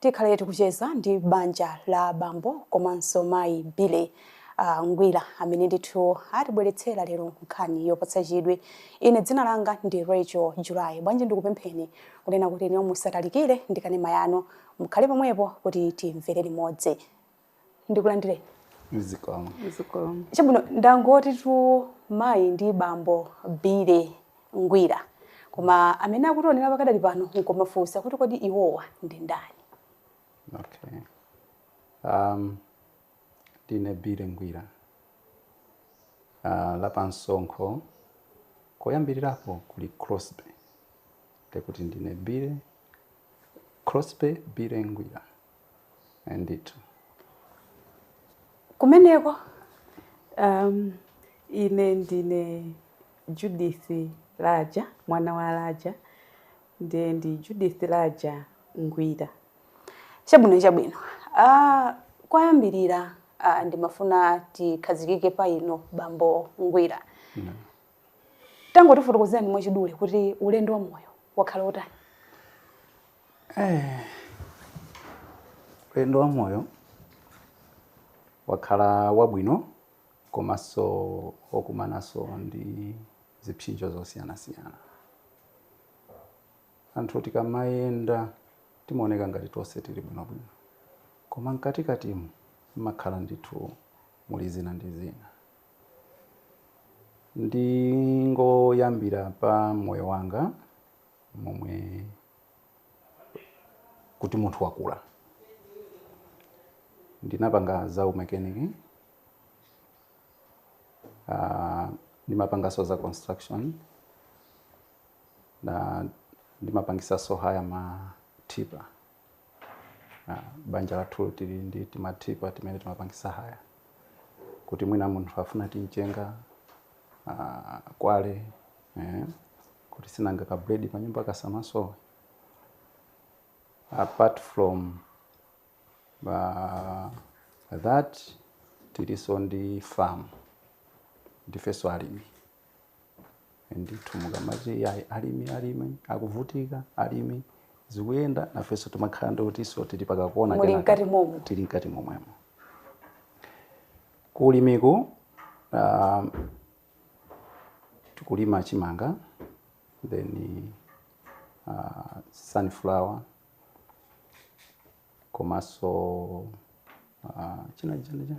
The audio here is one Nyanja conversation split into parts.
Tikhale tikucheza ndi banja la bambo komanso mayi Billy uh, Ngwira amene ndithu atibweretsera lero nkhani yopatsa chidwi. Ine dzina langa ndi Rachel July. Bwanji ndikupempheni kunena kuti inuyo musatalikire ndi kanema yanu, mukhale pomwepo kuti timvere limodzi. ndikulandireni zikomo zikomo chabwino ndangotitu mayi ndi bambo Billy Ngwira koma amene akutiwonera pakadali pano nkumafunsa kuti kodi iwowa ndi ndani okay um ndine Billy Ngwira uh, lapamsonkho koyambirirapo kuli Crosby ndekuti ndine Billy Crosby Billy Ngwira Eh, ndithu kumeneko um, ine ndine judith laja mwana wa laja ndiye ndi judith laja ngwira chabwino chabwino uh, koyambirira uh, ndimafuna tikhazikike pa inu bambo ngwira tangotifotokozerani mwachidule kuti ulendo wa moyo wakhala wotani Ulendo wa moyo wakhala wabwino komanso wokumananso ndi zipsinjo zosiyanasiyana. Anthu tikamayenda timaoneka ngati tonse tili bwinobwino, koma mkatikatimu mumakhala ndithu muli zina ndi zina. Ndingoyambira pa moyo wanga. momwe kuti munthu wakula ndinapanga za umekaniki uh, ndimapanganso za construction na ndimapangisanso haya matipa uh, banja lathu tili ndi timatipa timene timapangisa haya kuti mwina munthu afuna timchenga uh, quarry eh, kuti si nanga ka bread pa nyumba kasamasowe apart from uh, that tiliso ndi farm ndifeso alimi ndithu mukamati yayi alimi alimi akuvutika alimi zikuyenda nafeso timakhala ndekutiso tili pakakona Muli mkati momo. tili mkati momwemo kulimiku um, tikulima chimanga then uh, sunflower komanso uh, china china chani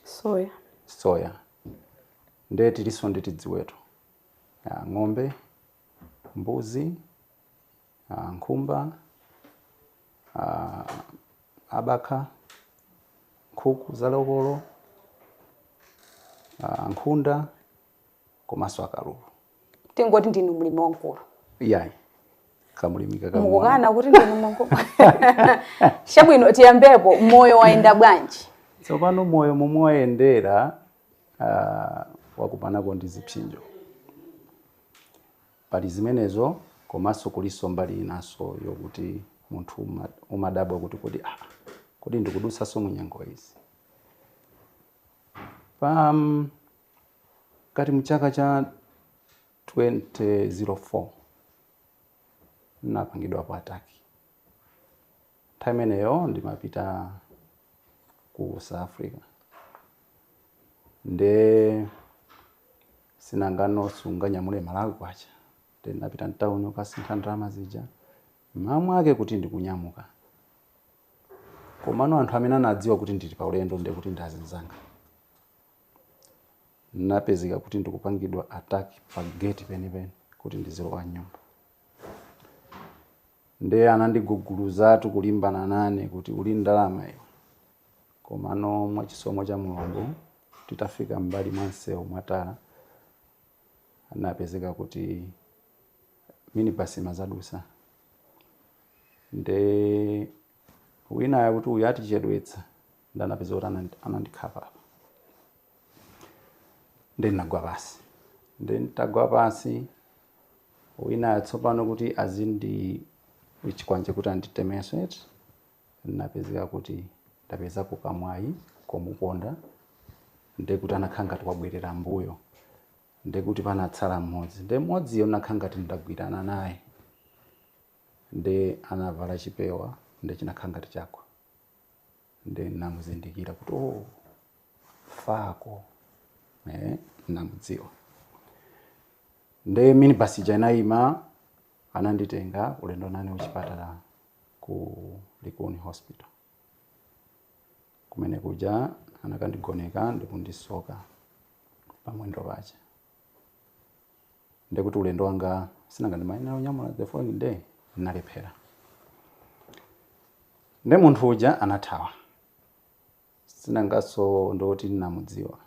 soya soya nde tilinso ndi tiziweto ya ng'ombe mbuzi nkhumba, abakha, nkhuku za lokolo, nkhunda komanso akalulu. tingoti ndinu mlimi wamkulu iyayi kamlimi kakang'ono. mukukana kuti ndinu mlimi chabwino tiyambepo moyo wayenda bwanji tsopano moyo momwe wayendera ah, ndakumanako ndi zipsinjo Pali zimenezo komanso kulinso mbali yinanso yokuti munthu umadabwa kuti kodi aah kodi ndikudutsanso munyengo iyi? Pakati muchaka cha 2004 ndinapangidwapo attack. Nthawi imeneyo ndimapita ku South Africa nde sinanga sunganyamule Malawi kwacha nde ndinapita mtauni kukasintha ndalama zija m'mawa mwake kuti ndikunyamuka komano anthu amene anadziwa kuti ndili pa ulendo nde kuti ndi azinzanga ndinapezeka kuti ndikupangidwa attack pa gate penipeni kuti ndizilowa m'nyumba nde anandiguguluzatu kulimbana nane kuti uli ndi ndalama iwe Komano mwa chisomo cha Mulungu titafika m'mbali mwa msewu mwa tala anapezeka kuti minibus imazadusa nde winayo kuti uyu atichedwetsa nde anapezeka kuti anandi- anandikhapa apa nde ndinagwa pansi nde nditagwa pansi winayo tsopano kuti ali ndi chikwanje kuti anditemenso eti ndinapezeka kuti ndapezako kamwayi komuponda ndekuti anakhala ngati wabwerera mbuyo ndekuti panatsala mmodzi nde mmodziyo ndinakhala ngati ndagwirana naye nde anavala chipewa nde chinakhala ngati chagwa nde ndinamuzindikira kuti oh, fako eh, ndinamudziwa nde minibus ija inayima Ananditenga ulendo nane kuchipatala ku Likuni hospital. Kumene kuja anakandigoneka ndikundisoka pamwendo paja. Ndekuti ulendo wanga sinanga ndimayenera kunyamuka the following day ndinalephera. Nde munthu uja anathawa. Sinangaso nde kuti ndinamudziwa.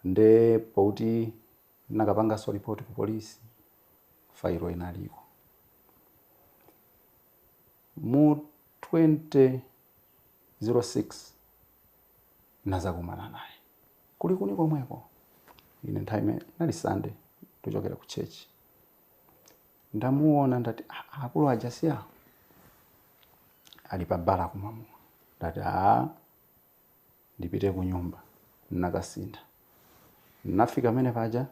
Nde poti N'nakapanganso lipoti ku polisi, failo inaliko. Mu 2006 ndinazakumana naye ku Likuni komweko, ine nthawi imeneyo inali Sunday ndikuchokera ku church. Ndamuona ndati ah, akulu aja si awo ali pa bala kumwa mowa, ndati ah, ndipite kunyumba. N'nakasintha. N'nafika pamene paja,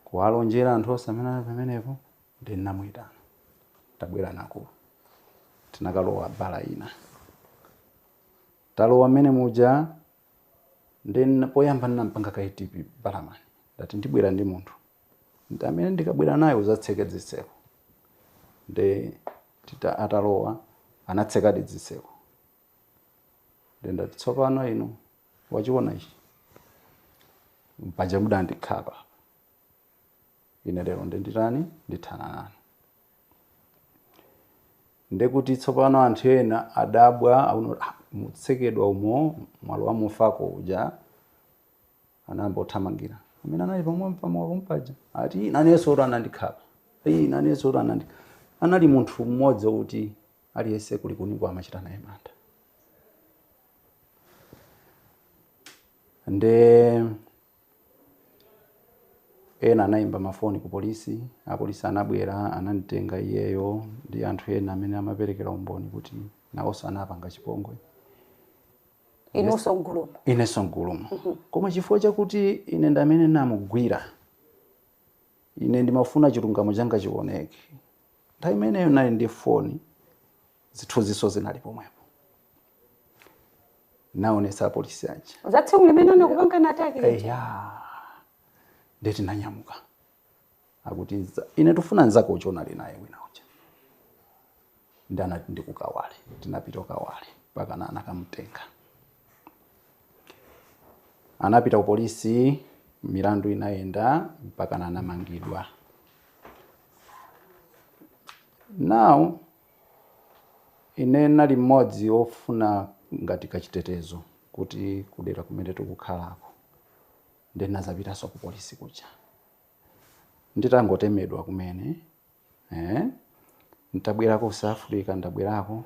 kuwalonjela anthu wonse amene anali pamenepo, ndiye n'namuitana. Tabwela naye. Tinakalowa bala ina. Talowa mmene muja, ndiye n'na, poyamba n'nam'panga kaye tipi balamani. Ndati, Ndibwera ndi munthu. Ndi amene ndikabwera naye udzatseke zitseko. Ndiye tita, atalowa, anatsekadi zitseko. ndendati tsopano inu wachiona ichi mpaja mudandikhapa ine lero ndenditani ndithana nanu ndekuti tsopano anthu ena adabwa auno "Ah, mutsekedwa umo mwalowa mufako uja anayamba kuthamangira amene anali pamwamba pamowa pompaja ati nanenso kuti anandikhapa "Ii, nanenso kuti anandi anali munthu mmodzi wokuti Aliyense ku Likuniko amachita naye mantha. Nde ena anayimba mafoni ku polisi, apolisi anabwera anadzatenga iyeyo ndi anthu ena amene amaperekera umboni kuti nawonso anapanga chipongwe. Inunso m'gulumo? Inenso m'gulumo. Koma chifukwa chakuti ine ndi amene ndinamugwira, ine ndimafuna chilungamo changa chiwoneke. Nthawi imeneyo ndinali ndi foni, zithunzinso zinali pomwepo. Ndinaonetsa apolisi aja. Za tsiku limene anakupangani attack lija? Eya. Ndiye tinanyamuka. Akuti ife tikufuna mnzako uja unali naye wina uja. Ndiye anati ndi ku Kawale. Tinapita ku Kawale mpakana anakamutenga. Anapita kupolisi, milandu inayenda mpakana anamangidwa. Now, ine nali mmodzi ofuna ngati kachitetezo kuti kudera kumene tikukhalako ndinazapitanso ku polisi kuja nditangotemedwa kumene eh? ntabwerako ku South Africa ndabwerako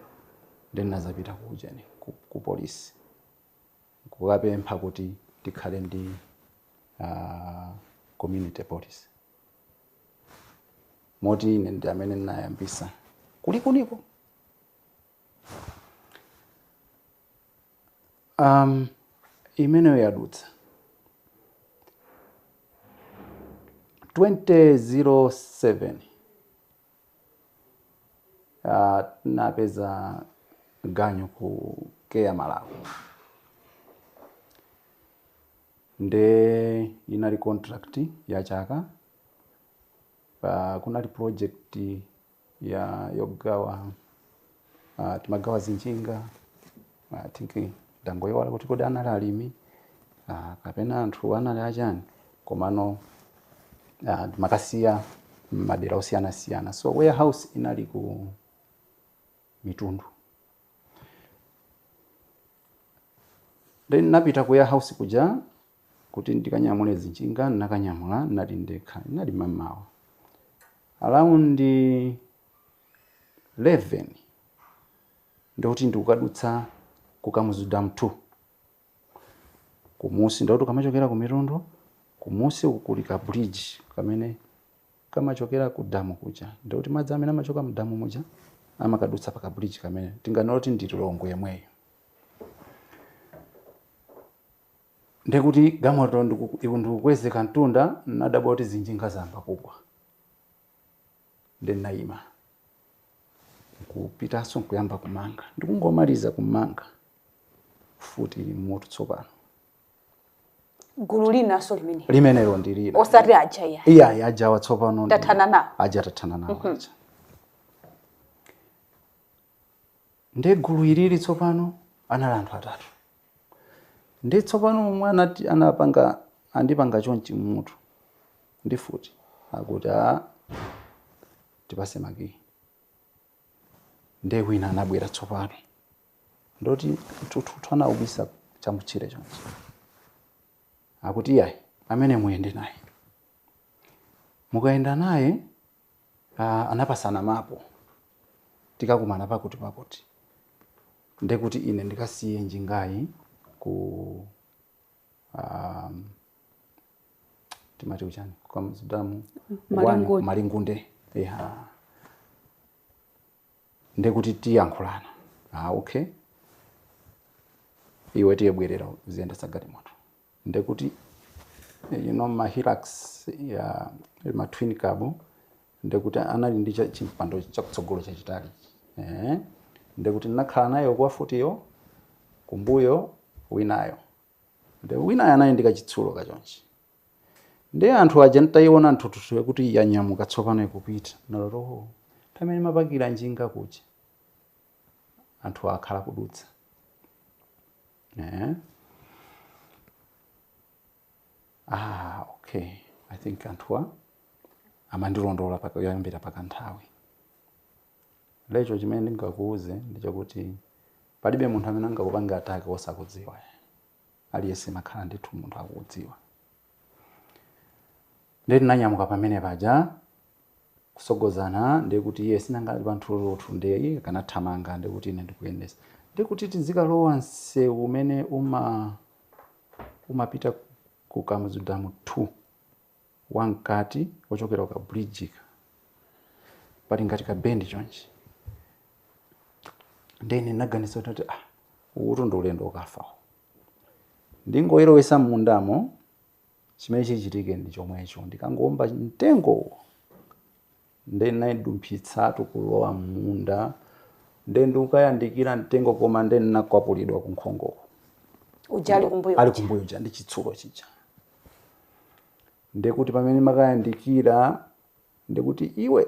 ndinazapita kuja ku, ku polisi nkukapempha kuti tikhale ndi a community police moti ine ndi amene ndinayambisa kulikuniko um, imeneyo yadutsa 2007 Uh, napeza ganyu ku Care Malawi nde inali contract ya chaka uh, kunali project ya yogawa uh, timagawa zinjinga uh, think ndangoyiwala kuti kodi anali alimi uh, kapena anthu anali achani komano uh, timakasiya madera osiyanasiyana so warehouse inali ku mitundu then napita ku warehouse kuja kuti ndikanyamule zinjinga nakanyamula nali ndekha nali mamawa around 11 ndikuti ndikukadutsa ku Kamuzu Dam 2 kumusi, ndikuti ukamachokera ku Mitundu kumusi uku kuli ka bridge kamene kamachokera ku damu kuja, ndikuti madzi amene amachoka mu damu muja amakadutsa pa ka bridge kamene tinganene kuti ndi Lilongwe yemweyo. Ndikuti galimoto ndiku- iku ndikukwezeka mtunda, nadabwa kuti zinjinga zayamba kugwa. ndi ndinayima nkupitanso nkuyamba kumanga ndikungomaliza kumanga mfuti mmutu tsopano gulu linanso limene limenelo ndi lina osati aja iya iyayi ajawa tsopano ndi- Tathana nawo. aja tathana nawo aja Ndiye gulu ilili tsopano anali anthu atatu. Ndiye tsopano omwe anati anapanga andipanga chonchi mmutu ndi mfuti akuti a ah, tipatse makiyi. Ndiye wina anabwera tsopano ndoti mthuthuthu anaubisa chamutchire chonchi akuti iyayi amene muyende naye mukayenda naye Ah, anapatsana mapu tikakumana pakuti pakuti ndekuti ine ndikasiye njingayi ku um, timati kuchani ku Kamuzu Dam Malingunde. malingunde yeah. ndekuti tiyankhulana ah, okay iwe tiye bwerera uziyendesa galimoto ndekuti you know ma hilux ya ma twin cab ndekuti anali ndi cha- chimpando chakutsogolo chachitali eh ndekuti ndinakhala nayo mfutiyo kumbuyo winayo nde winayo anali ndi kachitsulo kachonchi ndi anthu aja nditayiona njinga kuti yanyamuka tsopano ikupita pamene amapakira njinga kuja anthu akhala kudutsa Eh? Ah, okay. I think anthuwa amandilondola paka- kuyambira pakanthawi. Nde chimene ndingakuuze ndichakuti palibe munthu amene angakupange attack wosakudziwa. Aliyense amakhala ndithu munthu akukudziwa. Ndiye tinanyamuka pamene paja kutsogozana ndiye kuti iye sinanga ali panthuthuthu ndiye iye akuthamanga ndiye kuti ine ndikuyendetsa ndiye kuti tizikalowa msewu umene uma umapita ku Kamuzu Dam 2 wamkati wochokera kuka bridge ka pali ngati ka bend chonchi ndiye ine ndinaganiza kuti ah uwutu ndi ulendo wokafa uwu. Ndingoilowetsa mmundamo chimene chichitike ndi chomwecho. Ndikangoomba mtengowo nde naidumphitsatu kulowa mmunda nde ndikukayandikira mtengo koma nde nakwapulidwa kunkhongoku. Uja ali kumbuyo. Ali kumbuyo uja ndi chitsulo chija. Ndekuti pamene ndimakayandikira ndekuti iwe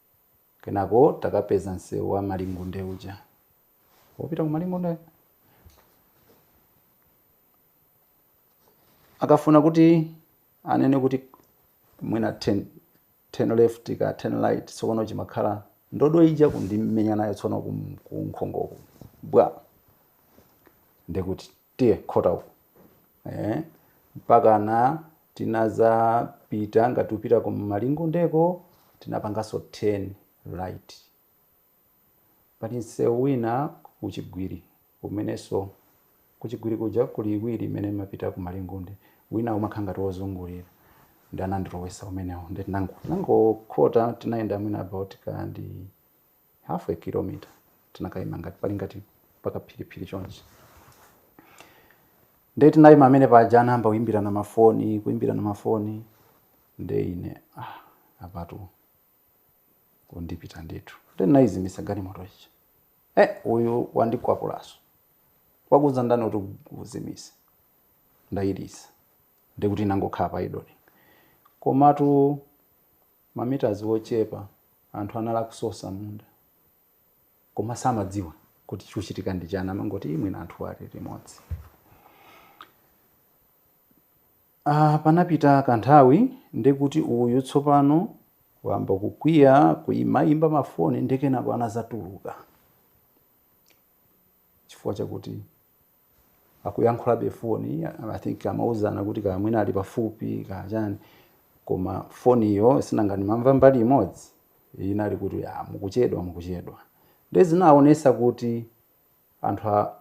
Kenako takapeza msewu wa Malingunde uja. Wopita ku Malingunde? Akafuna kuti anene kuti mwina turn turn left kaya turn right tsopano chimakhala ndodo ija kundimenya nayo tsono ku ku nkhongoku. Bwa. Ndikuti tiye khota uko eh, mpakana tinazapita ngati ukupita ku malingundeko tinapanganso turn right pali msewu wina kuchigwiri kumenenso kuchigwiri kuja kuli iwiri imene imapita ku malingunde wina umakhala ngati wozungulira nde anandilowetsa umenewo nde titangokhota tinayenda mwina about kaya ndi half a kilometer tinakaima ngati pali ngati pakaphiriphiri chonchi nde tinaima pamene paja anayamba kuimbirana mafoni kuimbirana mafoni nde ine ah, apatu akundipha ndithu nde ndinaizimitsa galimoto ija eh, uyu wandikwapulanso wakuuza ndani kuti uzimitse ndayilisa ndikuti inangokhala pa idling komatu ma meters ochepa anthu anali akusosa m'munda koma samadziwa kuti chikuchitika ndi chani amangoti "Ii, mwina anthu ali limodzi Ah, panapita kanthawi ndikuti uyu tsopano wamba kukwiya kuyimayimba mafoni ndi kenako anadzatuluka chifukwa chakuti akuyankhulabe pa foni I think amauzana kuti kaya mwina ali pafupi kaya chani koma foniyo sinanga ndimamva mbali imodzi inali kuti ah, mukuchedwa mukuchedwa nde zinaonetsa kuti anthu a-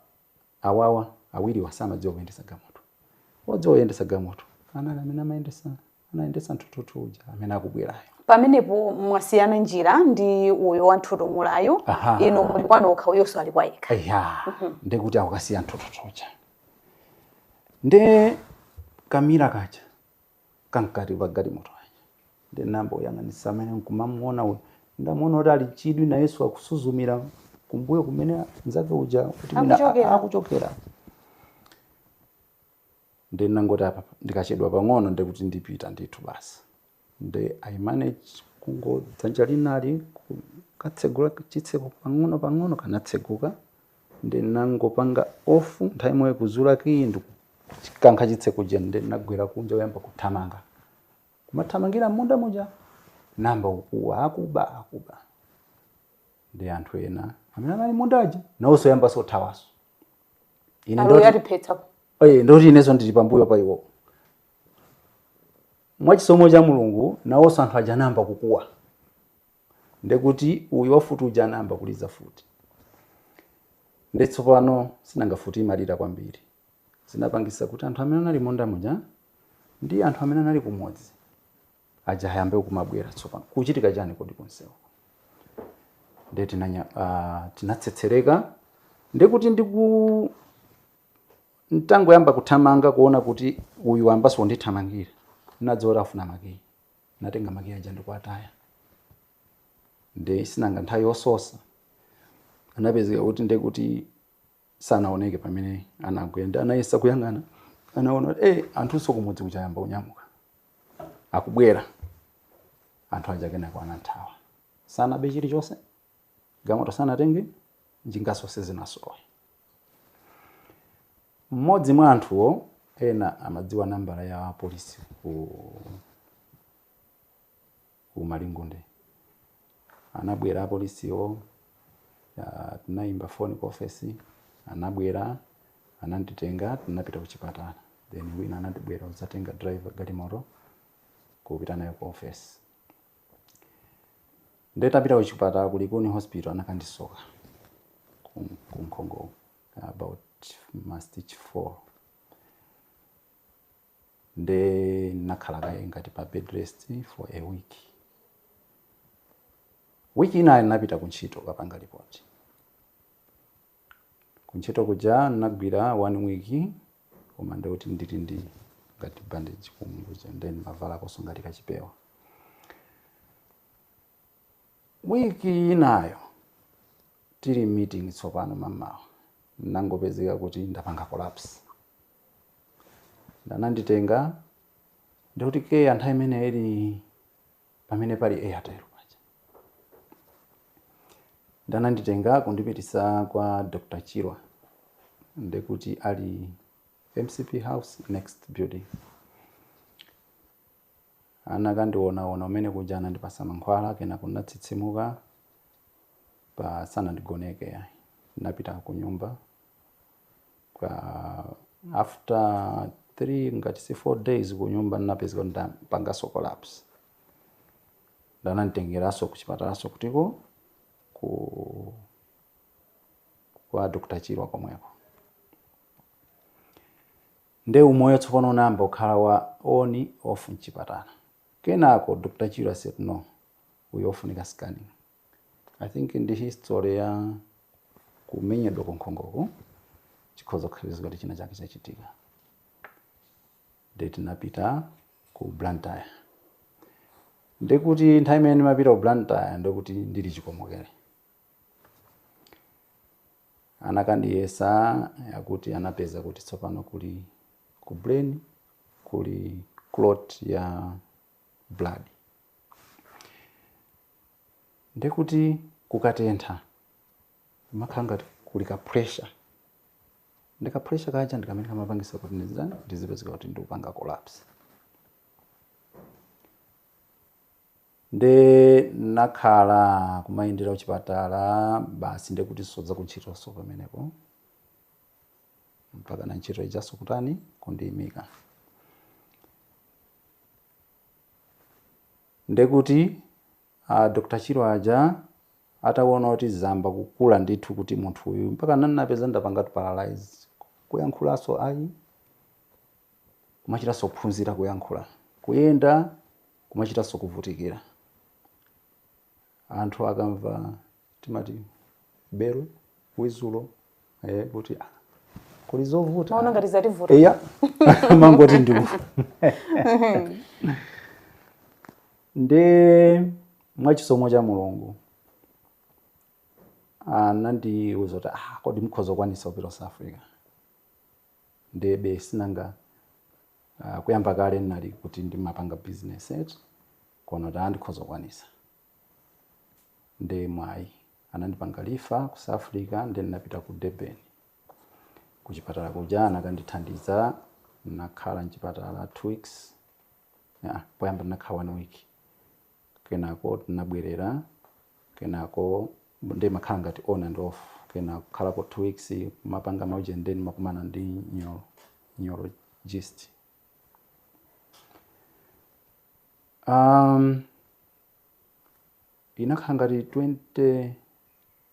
awawa awiriwa samadziwa kuyendetsa galimoto odziwa kuyendetsa galimoto anali amene amayendetsa anayendetsa nthuthuthu uja amene akubwerayo pamenepo mwasiyana njira ndi uyo wa nthutumulayo Aha. inu muli kwa nokha uyonso ali kwa yekha ya ndikuti akukasiya nthuthuthu uja nde ka mirror kaja kamkati mwa galimoto kaja nde nayamba kuyang'anitsa amene nkumamuona uyu ndamuona kuti ali chidwi na yesu akusuzumira kumbuyo kumene mnzake uja kuti mwina Akuchokera. a- akuchokera Nde ndinangoti apa ndikachedwa pang'ono nde kuti ndipita ndithu basi. Nde I managed kungo dzanja linali kukatsegula chitseko pang'ono pang'ono kanatseguka. Nde ndinangopanga off nthawi imweyo kuzula kiyi ndikukankha chitseko chija nde ndinagwera kunja kuyamba kuthamanga. Kumathamangira m'munda muja nayamba kukuwa akuba akuba. Nde anthu ena amene anali m'munda aja nawonso ayambanso kuthawanso. ine ndoti awa atiphetsa Oye, ndoti inenso ndili pambuyo pa iwo mwachisomo cha mulungu nawonso anthu aja anayamba kukuwa ndekuti uyu wamfuti uja anayamba kuliza mfuti nde tsopano sinanga mfuti imalira kwambiri zinapangitsa kuti anthu amene anali m'munda muja ndi anthu amene anali kumudzi aja ayambe kumabwera tsopano kukuchitika chani kodi kunsewu nde tinanya uh, tinatsetsereka nde kuti ndiku ntangoyamba kuthamanga kuona kuti uyu wayambanso kundithamangira nadziwa kuti afuna makiyi natenga makiyi aja ndikuataya nde sinanga nthawi yososa anapezeka kuti nde kuti sanaoneke pamene anagwera nde anayesa kuyang'ana anaona kuti eh, anthunso kumudzi kuja ayamba kunyamuka akubwera anthu aja kenako anathawa sanabe chilichonse galimoto sanatenge njinganso sizinasowe mmodzi mwa anthuwo ena amadziwa nambala ya polisi ku ku Malingunde. Anabwera apolisiwo, tinaimba foni ku ofesi, anabwera, ananditenga, tinapita kuchipatala. Then wina anabwera kudzatenga driver galimoto kupita nayo ku ofesi. Nde tapita kuchipatala ku Likuni hospital anakandisoka kunkhongo about mastich 4 nde ndinakhala kaye ngati pa bed rest for a week. Week inayo ndinapita ku ntchito kukapanga lipoti. Ku ntchito kuja ndinagwira one week koma ndikuti ndili ndi ngati bandage kumwe kuja nde ndimavalakonso ngati kachipewa. Week inayo tili meeting tsopano mamawa ndinangopezeka kuti ndapanga collapse. Ananditenga ndikuti CARE nthawi imene ili pamene pali Airtel paja. Ananditenga kundipitisa kwa Dr. Chirwa ndikuti ali MCP House next building. Anakandionawona umene kuja anandipasa mankhwala kenako ndinatsitsimuka koma sanandigoneke ayi. Ndinapita kunyumba. Ka- after 3 ngati si 4 days kunyumba ndinapezeka kuti ndapanganso collapse ndananditengeranso kuchipatalanso kutiko uku kwa dr chirwa komweko nde umoyo tsopano unayamba kukhala wa on off mchipatala kenako dr chirwa said no uyu ofunika scanning i think ndi history ya kumenyedwa kunkhongoku chikhoza kukhala kuti china chake chachitika nde tinapita ku blantyre ndekuti nthawi imene ndimapita ku blantyre ndekuti ndili chikomokere anakandiyesa akuti anapeza kuti tsopano kuli ku brain kuli clot ya blood ndiye kuti kukatentha kumakhala ngati kuli ka pressure ndi ka pressure kaja ndi kamene kamapangisa kuti ndizitani ndizipezeka kuti ndikupanga collapse nde ndinakhala kumayendera kuchipatala basi nde kuti sodza kuntchitoso pamenepo mpakana ntchito ijaso kutani kundiyimika Nde kuti a Dr Chirwa aja atawona kuti zayamba kukula ndithu kuti munthu uyu mpaka ndinapezeka ndapangatu paralyze kuyankhulanso ayi kumachitanso kuphunzira kuyankhula kuyenda kumachitanso kuvutikira anthu akumva timati bele wizulo eh, kuti ah, kuli zovuta maona ngati zativuta eya ndimangoti ndiwo nde mwachisomo cha mulungu anandiuza kuti ah, kodi mukhoza kukwanitsa kupita ku south africa ndebe sinanga ah, kuyamba kale ndinali kuti ndimapanga business et kono ta ndikhoza kukwanitsa nde mwamwayi anandipanga refer ku south africa nde ndinapita ku durban kuchipatala kuja anakandithandiza ndinakhala mchipatala two weeks yeah, poyamba ndinakhala one week kenako tinabwerera kenako nde ndimakhala ngati on and off kena kukhalako two weeks ndimapanga maujeni nde ndimakumana ndi neuro neurologist Um, inakhala ngati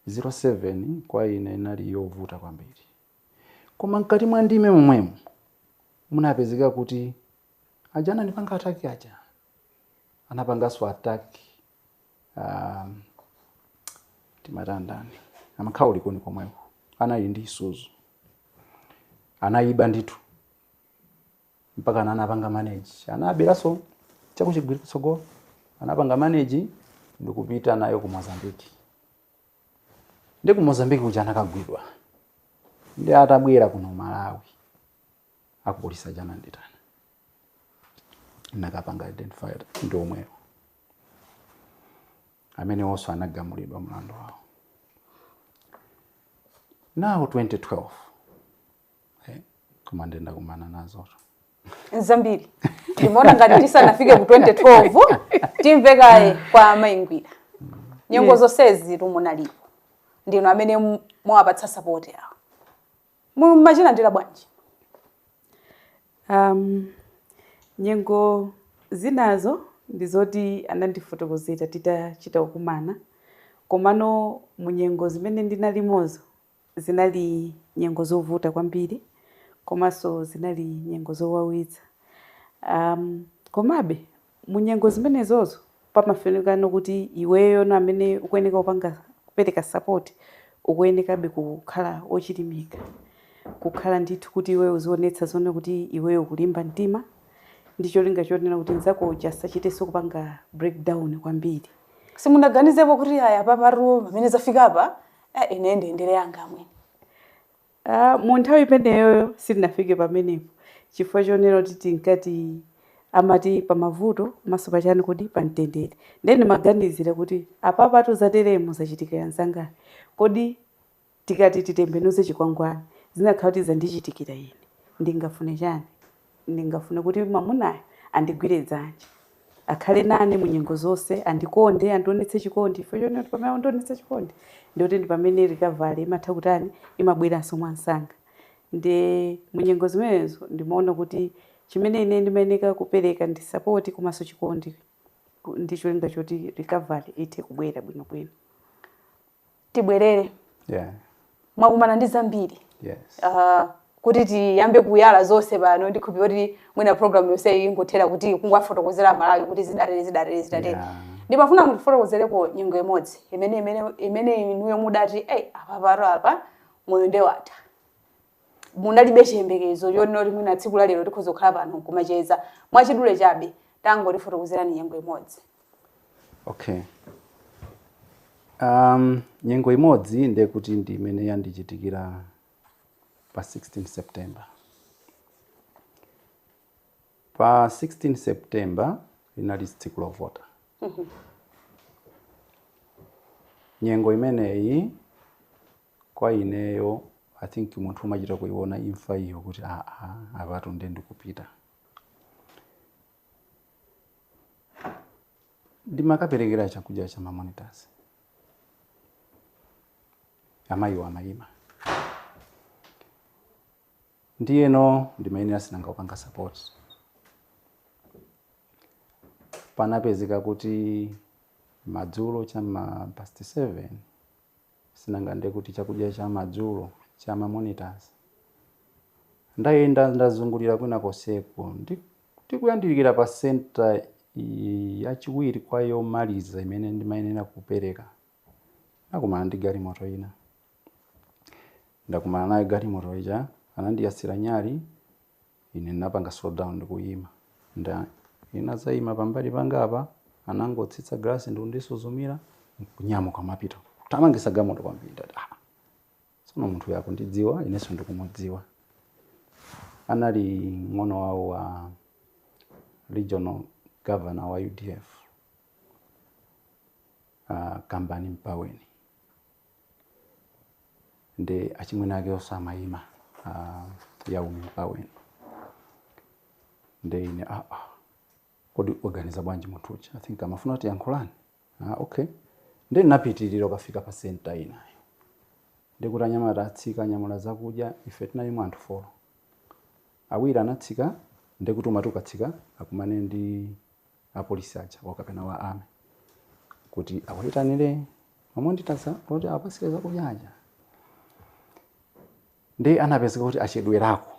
2007 kwa ine inali yovuta kwambiri koma mkati mwa ndime momwemo munapezeka kuti aja anandipanga attack aja anapanganso attack um, timatandani amakhala ku Likuni komweko anali ndi isuzu anayiba ndithu mpaka ana anapanga manage anaberanso cha ku Chigwiri kutsogolo anapanga manage ndikupita nayo ku mozambique nde ku mozambique kuja anakagwidwa nde atabwera kuno malawi akupolisi aja ananditana ndinakapanga identify ndi omwewo amenewonso anagamulidwa mlandu wawo mu 2012 Eh, koma nde ndakumana nazo zambiri ndimaona ngati tisanafike ku 2012 timve kaye kwa amayi Ngwira nyengo yeah. zonsezi tu munalipo ndinu amene mumawapatsa sapoti awo mumachilandira bwanji um, nyengo zinazo ndi zoti anandifotokozera titachita kukumana komano munyengo zimene ndinalimozo Zinali nyengo zovuta kwambiri komanso zinali nyengo zowawitsa. um Komabe, mu nyengo zimenezozo pamafunikano kuti iweyono amene ukuyeneka kupanga kupereka support ukuyenekabe kukhala ochilimika, kukhala ndithu kuti iweyo uzionetsa azioona kuti iweyo ukulimba mtima ndi cholinga chonena kuti mzako uja asachitenso kupanga break down kwambiri. Simunaganizepo kuti ayi apapatu pamene zafikapa Eh, ineyo ndiyendere yanga amwene. Ah, mu nthawi imeneyoyo sitinafike pamenepo chifukwa chonena kuti tinkati amati pamavuto komanso pachani kodi pamtendere ndiye ndimaganizira kuti apapatu zateremu zachitikira anzangawa kodi tikati titembenuze chikwangwani zinakakhala kuti zandichitikira ine ndingafune chani Ndikanafuna kuti mwamunayo andigwire dzanja, akhale nane mu nyengo zonse, andikonde, andionetse chikondi, chifukwa chonena kuti pamene akundionetsa chikondi, ndikuti ndi pamene recovery imatha kutani, imabweranso mwa msanga. Ndi mu nyengo zimenezo ndimaona kuti chimene ine ndimayeneka kupereka ndi sapoti komanso chikondi, ndi cholinga choti recovery ithe kubwera bwinobwino. tibwerere yeah mwakumana ndi zambiri yes uh, kuti tiyambe kuyala zonse pano ndikhulupirira kuti mwina program yonse ingothera kuti kungowafotokozera aMalawi kuti zidatere zidatere zidatere Yeah. ndimafuna mutifotokozereko nyengo imodzi imene imene imene inuyo mudati eyi apapatu apa moyo nde watha munalibe chiyembekezo chonena kuti mwina tsiku la lero tikhoza kukhala pano kumacheza mwachidule chabe tangotifotokozerani nyengo imodzi okay um, nyengo imodzi ndiye kuti ndi imene yandichitikira pa 16 september pa 16 september linali tsiku lovota nyengo imeneyi Kwa ineyo I think munthu umachita kuiona imfa iyo kuti aa apatu nde ndikupita. Ndimakaperekera chakudya cha ma monitors. Amayiwo amayima. Ndiyeno ndimayenera si nanga kupanga support. Panapezeka kuti madzulo cha ma past 7 si nanga nde kuti chakudya cha madzulo cha ma monitors ndayenda ndazungulira kwina konseku ndikuyandikira pa center i- yachiwiri kwa yomaliza imene ndimayenera kupereka nakumana ndi galimoto ina ndakumana nayo galimoto ija anandiyasira nyali Ine ndinapanga slow down ndi kuyima. Nda. Iye anadzayima pambali pangapa, anangotsitsa galasi ndi kundisuzumira, nkunyamuka kumapita. Kuthamangitsa galimoto kwambiri. Ndati, ah, tsono munthu uyu akundidziwa, inenso ndikumudziwa. Anali mng'ono wawo wa regional governor wa UDF, ah, Kambani Mpaweni. nde achimwene akewonso amayima a Yaumi Mpaweni nde ine ah, ah. kodi waganiza bwanji munthu uja i think amafuna kutiyankhula ah, okay nde ndinapitirira kukafika pa senta inayo ndekuti anyamata atsika anyamula zakudya ife tinayimwa anthu folo awiri anatsika ndekuti umati ukatsika akumane ndi apolisi aja a kapena a army kuti awayitanire mamonditaza kuti apasire zakudya aja nde anapezeka kuti achedwerako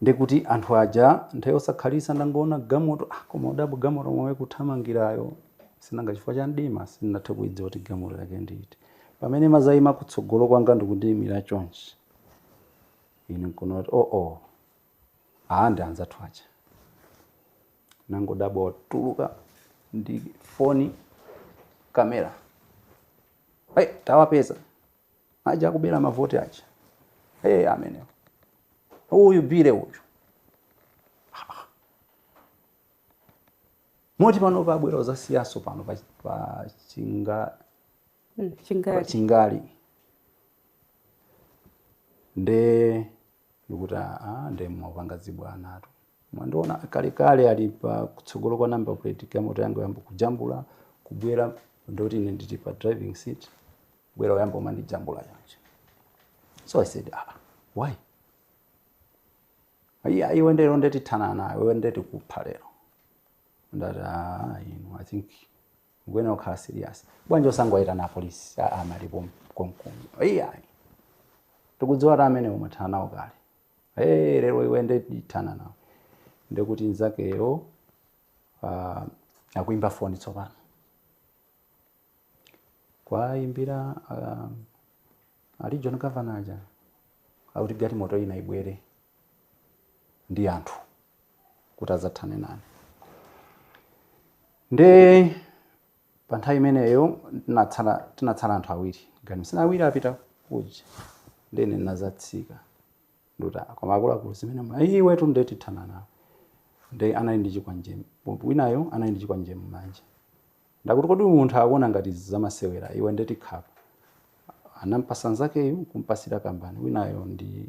ndekuti anthu aja nthawi yosakhalitsa ndangoona gamoto ah, koma udabu gamoto momwe kuthamangirayo sinanga chifukwa cha mdima sindinathe kuidziwa kuti gamoto yake ndi iti pamene imazayima kutsogolo kwanga ndikundiyimira chonchi ine nkuona kuti oo oh, oh. Aa ndi anzathu aja. Ndangodabwa watuluka ndi foni kamera. Hey, tawapeza. Aja akubera mavoti aja. Hey, amenewo. Uyu bure uyu. Moti pano wabwera uzasiyaso pano pa, pa chinga Mm, pa Chingale Chingale nde ndekuti aa nde mwapanga zibwanatu mwandiona kalekale ali pa kutsogolo kwa number plate ya galimoto yanga wayamba kujambula kubwera ndoti ine ndili pa driving seat kubwera kuyamba kumandijambula choncho so i said ah, why iya iwe lero nde tithana nawe iwe nde tikupha lero ndati ah, inu i think Mukuyenera kukhala serious. Bwanji osangowaitana apolisi a amali konkuno. Iyayi. Tikudziwa ta amene umathana nawo kale. Hey, lero iwe nde tithana nawe. Ndekuti nzakeyo uh, akuimba foni tsopano. Kuwaimbira uh, a regional governor aja. Akuti galimoto ina ibwere. ndi anthu kuti adzathane nane nde pa nthawi imeneyo tinatsala tinatsala anthu awiri gani sina awiri apita kuja nde ine ndinadzatsika nduti koma akuluakulu zimene mwa iwe tu nde tithana nawo nde anali ndi chikwanje winayo anali ndi chikwanje mmanja ndekuti kodi uyu munthu akuona ngati izi zamasewera iwe nde tikukhapa anampasa nzakeyo kumpasira kambani winayo ndi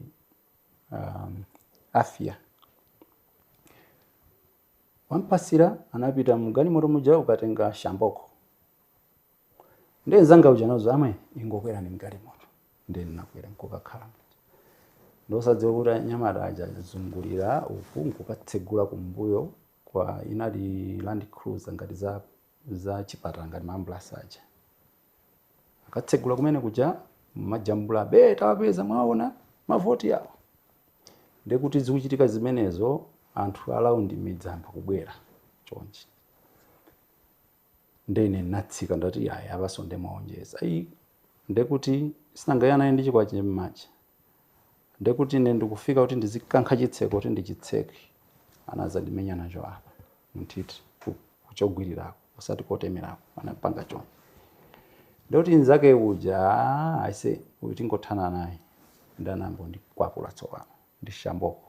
um, afia wampasira anapita mgalimoto muja kukatenga shamboko nde nzanga uja nazoti amwene ingokwerani mgalimoto nde ninakwera nkukakhala ndosadziwa kuti anyamata aja azungulira uku nkukatsegula kumbuyo kwa inali land cruiser ngati za za chipatala ngati maambulasi aja akatsegula kumene kuja mmajambula eti tawapeza mwaona mavoti awo ndekuti zikuchitika zimenezo anthu a laundi ayamba kubwera chonchi ndene natsika ndati yaya abaso ndemaonjeza ayi ndekuti sinangayanaye ndi chikwanje mmanja ndekuti ine ndikufika kuti ndizikankha chitseko kuti ndichitseke anazandimenya nacho apa nthiti ku, ku chogwirirako osati kotemerako anapanga choncho ndoti nzake uja "Ah, aise uyu tingothana naye nde anayamba kundikwapula tsopano ndi shamboko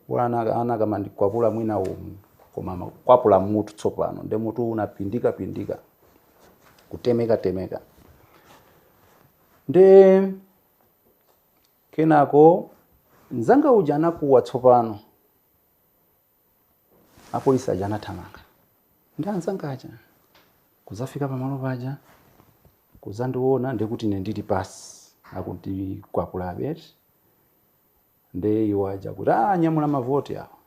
wina anakamandikwapula mwina umu koma amakwapula mutu tsopano nde mutu unapindika pindika kutemeka temeka nde kenako nzanga uja anakuwa tsopano Apolisi aja anathamanga ndi anzanga aja kudzafika pamalo paja kudzandiona ndekuti ine ndili pansi akuti kwakulabe eti nde iwo aja kuti ah nyamula mavoti awo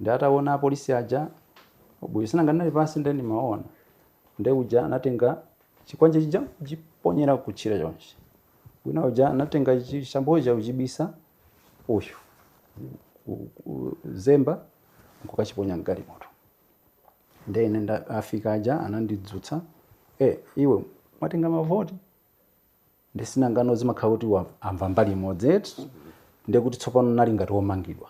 ndi ataona apolisi aja bwino sinanga ndinali pansi nde ndimaona nde uja anatenga chikwanje chija kuchiponyera kutchire chonchi wina uja anatenga chishamboko chija kuchibisa uyu ku- ku- zemba nkukachiponya mgalimoto nde ine nda- afika aja anandidzutsa e iwe mwatenga mavoti nde sinanga zimakhala kuti wa- amva mbali imodzi eti ndekuti tsopano ndinali ngati womangidwa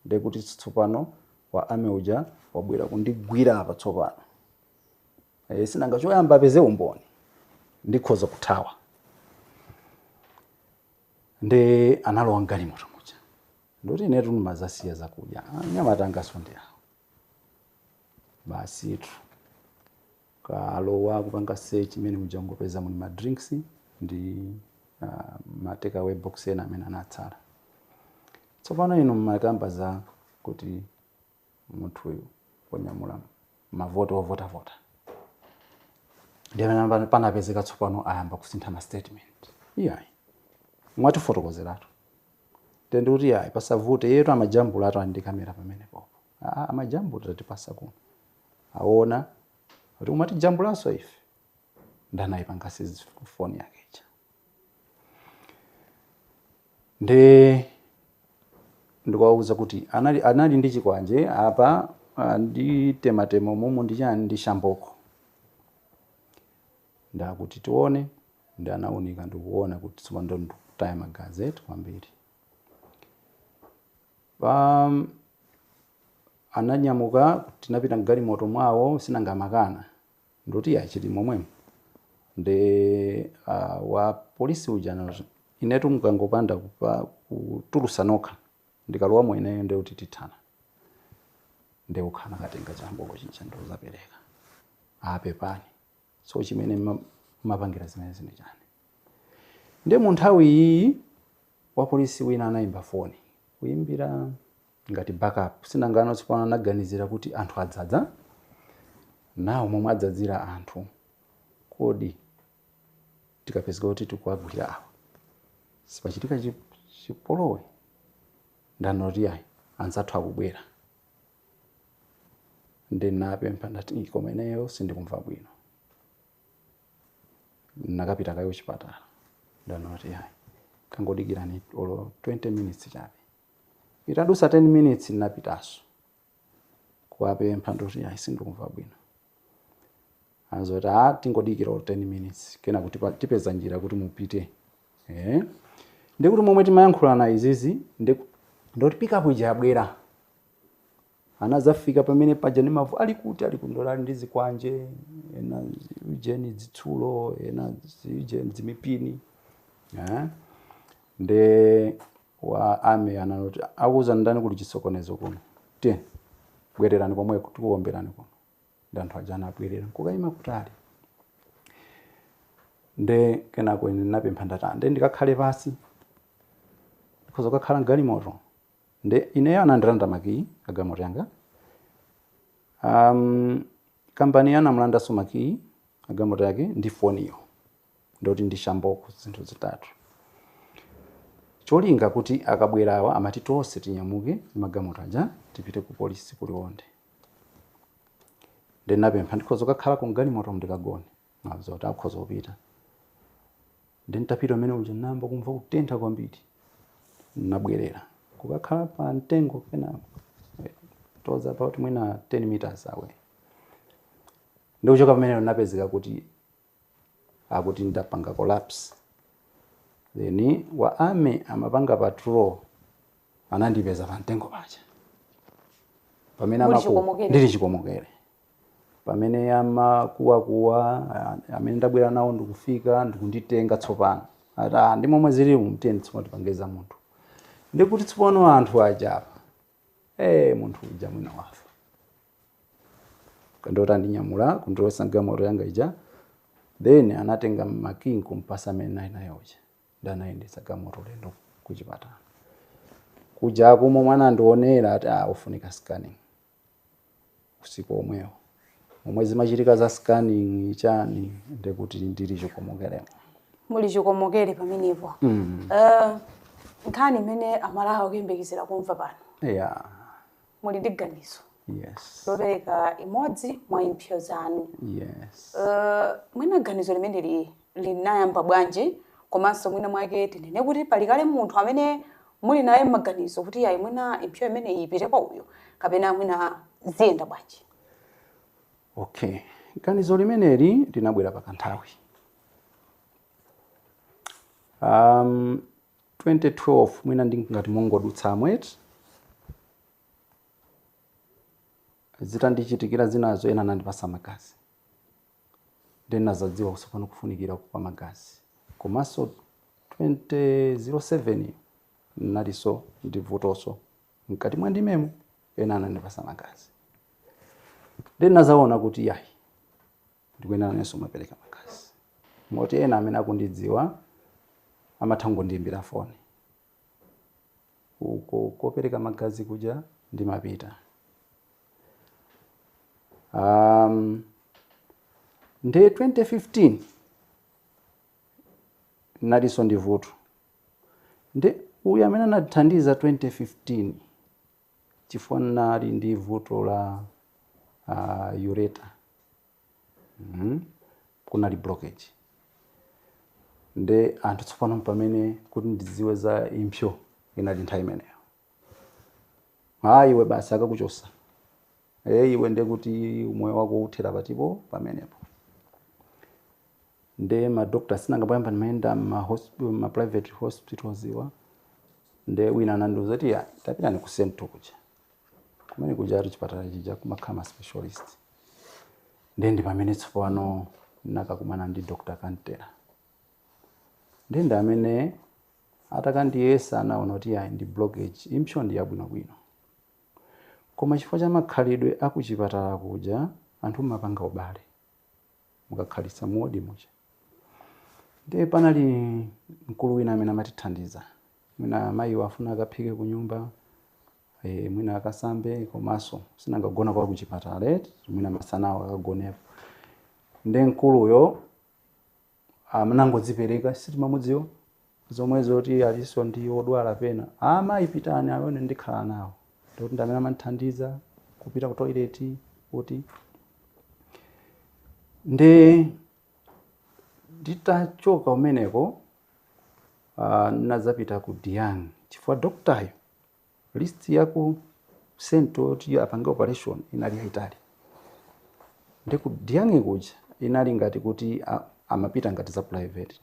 ndekuti tsopano wa army uja wabwera kundigwira apa tsopano e, sinanga choyamba apeze umboni ndikhoza kuthawa nde analowa mgalimoto muja ndikuti inetu ndimazasiya zakudya Ah, mnyamata angosonda awo basitu kalowa kupanga search mmene muja ungopeza muli ma drinks ndi uh, ma takeaway box ena amene anatsala tsopano inu mmakamba za kuti munthuyu wonyamula mavoti ovotavota ndiye mmene panapezeka tsopano ayamba kusintha ma statement iyayi mukatifotokozeratu nde kuti yayi pasavute yetu amajambula atu andi kamera pamene popo ah, amajambula tatipasa kuno aona kuti umatijambulaso ife nde anaipanga seize foni yake ija nde ndikuwauza kuti anali, anali ndi chikwanje apa ah, anditematema umu ndi chani ndi shamboko nde akuti tione nde anaunika ndikuona kuti tsopano ndo ndikutaya magazi eti kwambiri um, ananyamuka kuti anapita mgalimoto mwawo chinanga amakana ndikuti iyayi chili momwemo nde a wa police uja anati inetu mukangopanda kupa kutulusa nokha ndikalowamo ineyo nde kuti tithana nde okha anakatenga chamboko chija ndikuzapereka a pepani sitimene mma- mmapangira zimenezi ndi chani nde mu nthawi iyi wapolisi wina anayimba foni kuyimbira ngati backup chinanga tsopano anaganizira kuti anthu adzadza nde momwe adzadzira anthu kodi tikapezeka kuti tikuwagwira awa sipachitika chi- chipolowe nde anati ayi anzathu akubwera ndinapempha ndati "Ii, koma ineyo sindikumva bwino ndikapite kaye kuchipatala nde anati ayi tangodikirani olo 20 minutes chabe Itadusa 10 minutes ndinapitaso kuwapempha ndikuti ayi sindikumva bwino anadzati aa tingodikira olo 10 minutes kenako tipa- tipeza njira kuti mupite eh ndikuti momwe timayankhulana izizi nkuti pikapu ija yabwera anazafika pamene paja ngati mavu ali kuti ali kundola ali ndi zikwanje ena ziujeni dzitsulo ena ziujeni dzimipini eh? nde wa army anati wakuuzani ndani kuli chisokonezo kuno ti bwererani komweko tikuomberani kuno ndi anthu aja anabwerera nkukayima kutali nde kenako ine ndinapempha ndati nde ndikakhale pansi ndikhoza kukakhala mgalimoto Nde ineyo anandilanda makiyi agalimoto yanga. Kampani ya anamulandanso makiyi agalimoto yake ndi foniyo. Ndikuti ndi shamboko zinthu zitatu. Cholinga kuti akabwera awa amati tonse tinyamuke ndi magalimoto aja tipite kupolisi ku Liwonde. Nde ndinapempha ndikhoza kukakhala ku galimoto ndikagone? Anandiuza kuti ukhoza kupita. Ndiye nditapita umene uja ndinayamba kumva kutentha kwambiri. Ndinabwerera kukakhala pa mtengo penapake about mwina 10 meters away. Ndi kuchoka pamenepo ndinapezeka kuti akuti ndapanga collapse. Then wa army amapanga patrol anandipeza pa mtengo paja. Pamene ndili chikomokere. Pamene amakuwakuwa, ah, amene ndabwera nawo ndikufika ndikunditenga tsopano. Ati, ah, ndi momwe zilimu mtiyeni tsopano tipange za munthu. Ndikuti tsopano anthu aja apa. Eh, munthu uja mwina wafa. Kenako andinyamula kundilowetsa mgalimoto yanga ija. Then anatenga makiyi kumpasa amene ndinali naye uja. Nde anayendetsa galimoto ulendo kuchipatala. Kuja m'momwe anandionera ati ah, ufunika scanning. usiku womwewo momwe zimachitika za scanning chani ndekuti ndili chikomokeremo muli chikomokere pamenepo mm. uh, nkhani imene amalawi akuyembekezera kumva pano yeah. muli ndi ganizo yes. lopereka imodzi mwa impsyo zanu yes. uh, mwina ganizo limeneli linayamba bwanji, komanso mwina mwake tinene kuti pali kale munthu amene muli naye m'maganizo kuti yayi mwina impsyo imeneyi ipite kwa uyu kapena mwina ziyenda bwanji? Okay, ganizo limeneli linabwera pa kanthawi um, 2012 mwina ndingati mongodutsa mmene zitandichitikira zinazo ena anandipasa magazi ndiye ndinazadziwa kuti tsopano kufunikira kwa magazi komanso 2007 ndinaliso ndi vutoso mkati mwa m'mimbamu ena anandipasa magazi ndiye ndinazaona kuti yayi ndikuyenera nanenso kumapereka magazi moti ena amene akundidziwa amatha kungondiyimbira foni uko kopereka magazi kuja ndimapita um, nde 2015 nalinso ndi vuto nde uyu amene anathandiza 2015 chifukwa nali ndi vuto la uh, urethra kunali blockage nde anthu tsopano pamene kuti ndidziwe za impsyo inali nthawi imeneyo aa iwe basi akakuchotsa iwe nde kuti umoyo wako uthera patipo pamenepo nde madokta sinanga poyamba ndimayenda ma, ma private hospitals iwa nde wina anandiuza kuti "Ya, tapitani ku sento kuja kumene kujatu chipatala chija kumakhala ma specialist ndiye ndi pamene tsopano ndinakakumana ndi dr kantera ndiye ndi amene atakandiyesa anaona kuti ayi ndi blockage impsyo ndi yabwinobwino koma chifukwa cha makhalidwe a kuchipatala kuja anthu mumapanga ubale mukakhalitsa mu ward muja ndiye panali mkulu wina amene amatithandiza mwina mayiwa afuna akaphike ku nyumba ee mwina akasambe komanso sinanga kugona kwa kuchipatala eti mwina masanawo akagonepo nde mkuluyo anangodzipereka sitimamudziwa zomwe zoti alinso ndi odwala apena amayi pitani ine ndikhala nawo ndi amene amandithandiza kupita ku toilet kuti nde nditachoka kumeneko uh, nazapita ku Daeyang chifukwa doktayo list ya ku central yoti apange operation inali yaitali nde ku Daeyang kuja inali ngati kuti a- amapita ngati za private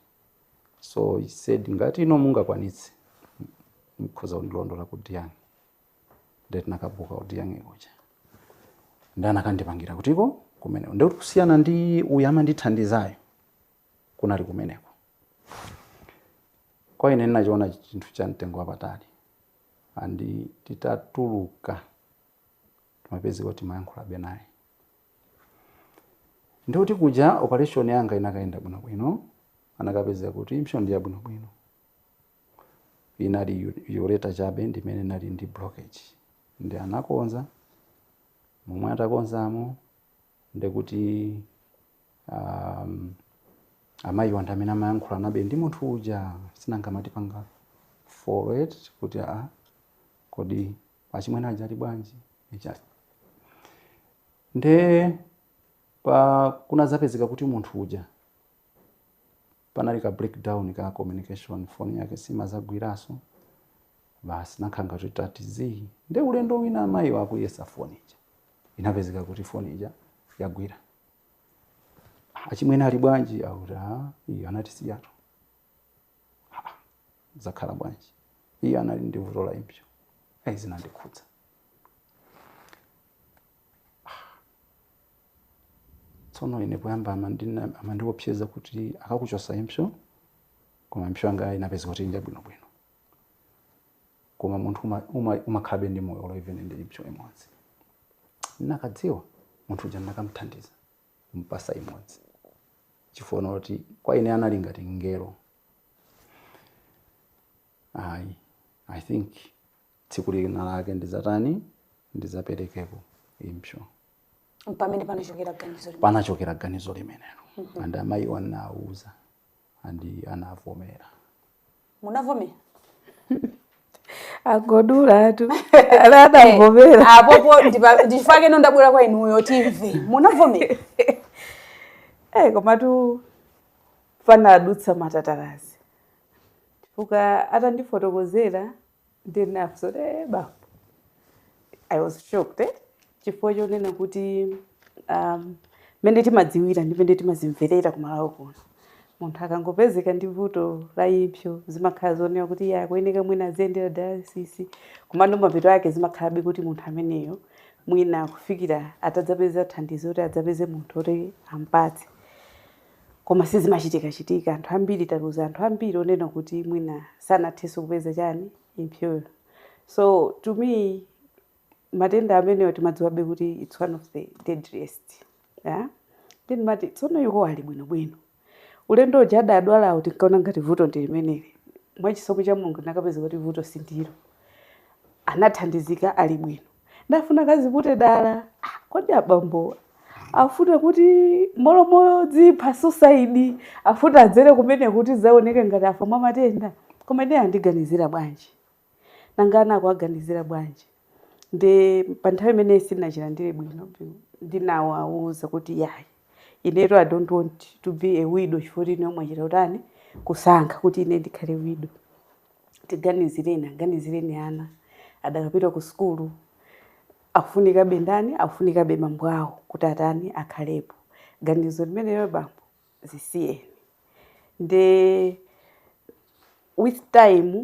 so he said ngati inu mungakwanitse mkhoza kundilondola ku Daeyang nde tinakabuka ku Daeyang kuja nde anakandipangira kutiko kumeneko ndekuti kusiyana ndi uyu amandithandizayo kunali kumeneko. Kwa ine ndinachiona chinthu cha mtengo wapatali and titatuluka timapezeka kuti timayankhulabe naye nde kuti kuja operation yanga inakayenda bwinobwino anakapeza kuti impsyo ndi yabwinobwino inali ureter chabe ndimene inali ndi blockage nde anakonza momwe atakonzamo ndekuti aah amayiwa ndi amene amayankhulanabe ndi munthu uja sinanga amatipanga follow eti kuti aa kodi achimwene aja ali bwanji chani nde pa kunadzapezeka kuti munthu uja panali ka break down ka communication phone yake simazagwiranso basi tinakhala ngati tati zii nde ulendo wina amayiwa kuyesa phone ija inapezeka kuti phone ija yagwira achimwene ali bwanji akuti "Ah, iwo anatisiyatu "Ah, zakhala bwanji iwo anali ndi vuto la impsyo ayi zinandikhudza tsono ine poyamba amandi- amandiopseza kuti akakuchotsa impsyo koma impsyo yanga inapezeka kuti ndi bwinobwino koma munthu uma- uma- umakhalabe ndi moyo olo even ndi impsyo imodzi ndinakadziwa munthu uja ndinakamthandiza kumpatsa imodzi chifukwa choti kwa ine anali ngati mngelo ayi i think tsiku lina lake ndidzatani ndidzaperekako impsyo mpamene panachokera ganizo limene panachokera ganizo limenelo and amayiwo anawuza and anavomera munavomera angodulatu anavomera apapo ndi chifukwa chake ndabwera kwa inuyo timve munavomera Eh, komatu panadutsa matatalazi chifukwa atandifotokozera ndinafunsa kuti "Eh, bambo i was shocked eh? chifukwa chonena kuti um, mmene timadziwira ndi mmene timazimverera ku Malawi kuno munthu akangopezeka ndi vuto la impsyo zimakhala zonena kuti iye akuyeneka mwina aziyendera dialysis komano mapeto ake zimakhalabe kuti munthu ameneyo mwina kufikira atadzapeza thandizo kuti adzapeze munthu woti ampatse koma sizimachitikachitika anthu ambiri taluza anthu ambiri onena kuti mwina sanathenso kupeza chani impsyoyo so to me matenda amenewa timadziwabe kuti it's one of the deadliest yeah? then amati tsono iwo ali bwinobwino ulendo uja adadwalawo tinkaona ngati vuto ndi limeneli mwachisomo cha mulungu tinakapeza kuti vuto si ndilo anathandizika ali bwino ndafuna kaziputa dala ah, kodi abambowa afuna kuti m'malo modzipha suicide afuna adzere kumene kuti zaoneke ngati afa mwa matenda koma ine andiganizira bwanji nanga ana akuwaganizira bwanji ndi pa nthawi imeneyi sindinachilandire bwino ndinawawuza kuti yayi inetu i don't want to be a widow chifukwa ine mwachita kutani kusankha kuti ine ndikhale widow Tiganizireni, aganizireni ana akadapita ku sukulu akufunikabe ndani? Akufunikabe bambo awo kuti atani akhalepo. Ganizo limenelo bambo lisiyeni. Nde with time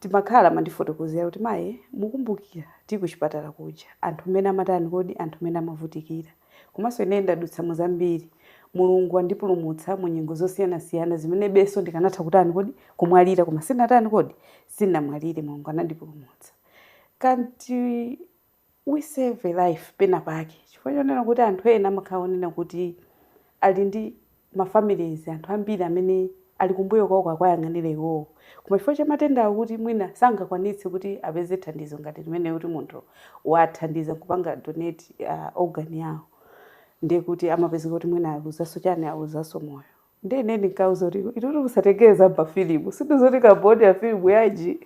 timakhala amandifotokozera kuti mayi mukumbukira tili kuchipatala kuja anthu mmene amatani kodi anthu mmene amavutikira. Komanso ine ndadutsa mu zambiri. Mulungu wandipulumutsa mu nyengo zosiyanasiyana zimenebenso ndikanatha kutani kodi? Kumwalira koma sindinatani kodi? Sindinamwalire, Mulungu anandipulumutsa. Can't we save a life pena pake? Chifukwa chonena kuti anthu ena amakhala onena kuti ali ndi ma families anthu ambiri amene Ali kumbuyo kwawo akuwayang'anira iwowo koma chifukwa cha matenda awo kuti mwina sangakwanitse kuti apeze thandizo ngati limenelo kuti munthu wathandiza kupanga donate organ yawo ndiye kuti amapezeka kuti mwina aluzanso chani aluzanso moyo ndiye ine ndinkauza kuti itutu musatengere za mafilimu si ndizo zoti kamboni ya filimu yanji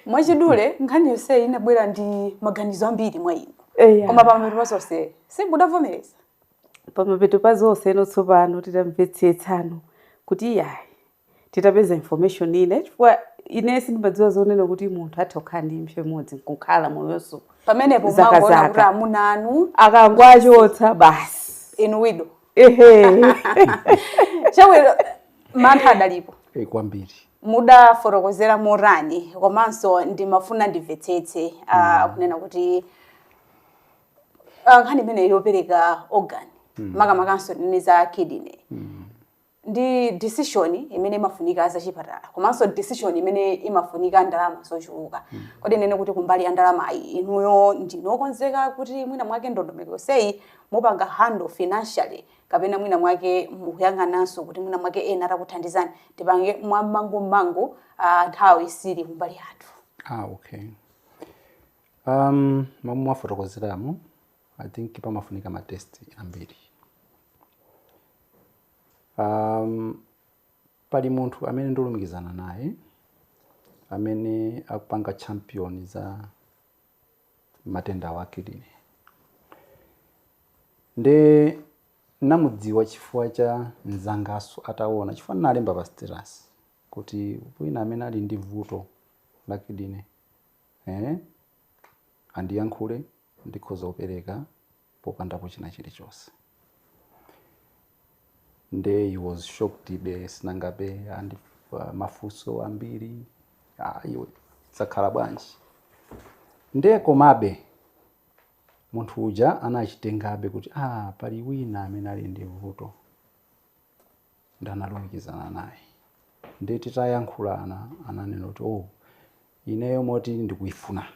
mwachidule nkhani yonseyi inabwera ndi maganizo ambiri mwa inu eya koma pamene zonse simudavomereza pamapeto pa zonse eno tsopano titamvetsetsano kuti iyayi titapeza information ina chifukwa ine sindimadziwa zonena kuti munthu atha kukhala ndi impsyo imodzi nkukhala moyo nde pamenepo zaka mwangoona kuti zaka amuna anu akangwachotsa basi inu widow ehe chabwino mantha adalipo Eee, kwambiri mudafotokozera motani komanso ndimafuna ndimvetsetse ah, kunena kuti Ah, nkhani imeneyi yopereka organ makamakanso ndinene za kidney ndi decision imene imafunika za chipatala komanso decision imene imafunika ndalama zochuluka kodi tinene kuti kumbali ya ndalamayi inuyo ndinu okonzeka kuti mwina mwake ndondomeko yonseyi mupanga handle financially kapena mwina mwake mukuyang'ananso kuti mwina mwake ena atakuthandizani tipange mwamangummangu ah, nthawi sili kumbali yathu Ah, okay. Momwe mwafotokozeramu I think pamafunika ma test ambiri. Pali munthu amene ndalumikizana naye amene akupanga champion za matendawa a kidney nde ndamudziwa chifukwa cha mzanganso ataona chifukwa ndinalemba pa status kuti wina amene ali ndi vuto la kidney Eee andiyankhule ndikhoza kupereka popandapo chinachilichonse. Nde he was shocked koma sinangabe ndi mafunso ambiri ah iwe zakhala bwanji. Nde komabe munthu uja anachitengabe kuti ah pali wina amene ali ndi vuto. nde analumikizana naye nde titayankhulana ananena kuti oh ineyo moti ndikuifuna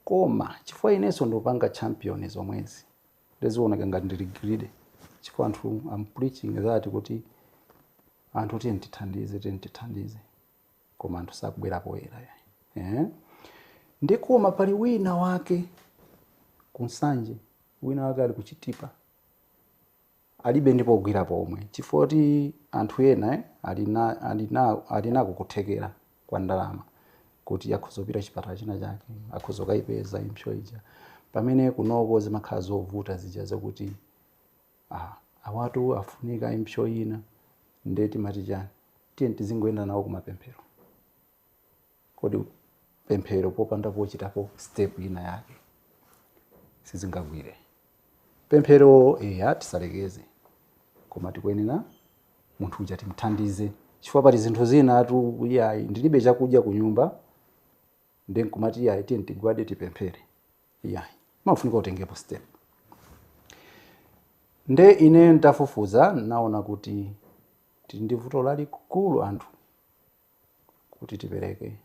koma chifukwa inenso ndikupanga champion zomwezi ndizioneka ngati ndili greedy chifukwa anthu am preaching that kuti anthu tiyeni tithandize tiyeni tithandize koma anthu sakubwera poyera eh? nde koma pali wina wake ku Nsanje wina wake ali ku Chitipa alibe ndi pogwira pomwe chifukwa kuti anthu ena ali na ali na ali nako kuthekera kwa ndalama kuti akhoza kupita chipatala china chake akhoza kayipeza impsyo ija pamene kunoko zimakhala zovuta zija zakuti ah, awatu afunika impsyo ina nde timati chiyani tiye tizingoyenda nawo kumapemphero kodi pemphero popanda pochitapo step ina yake sizingagwire pemphero eya tisalekeze koma tikuyenera munthu uja timthandize chifukwa pali zinthu zina ati iyayi ndilibe chakudya ku nyumba nde nkumati iyayi tiye tigwade tipemphere iyayi mafunika utengepo step nde ine ndafufuza naona kuti tili ndi vuto lalikulu anthu kuti tipereke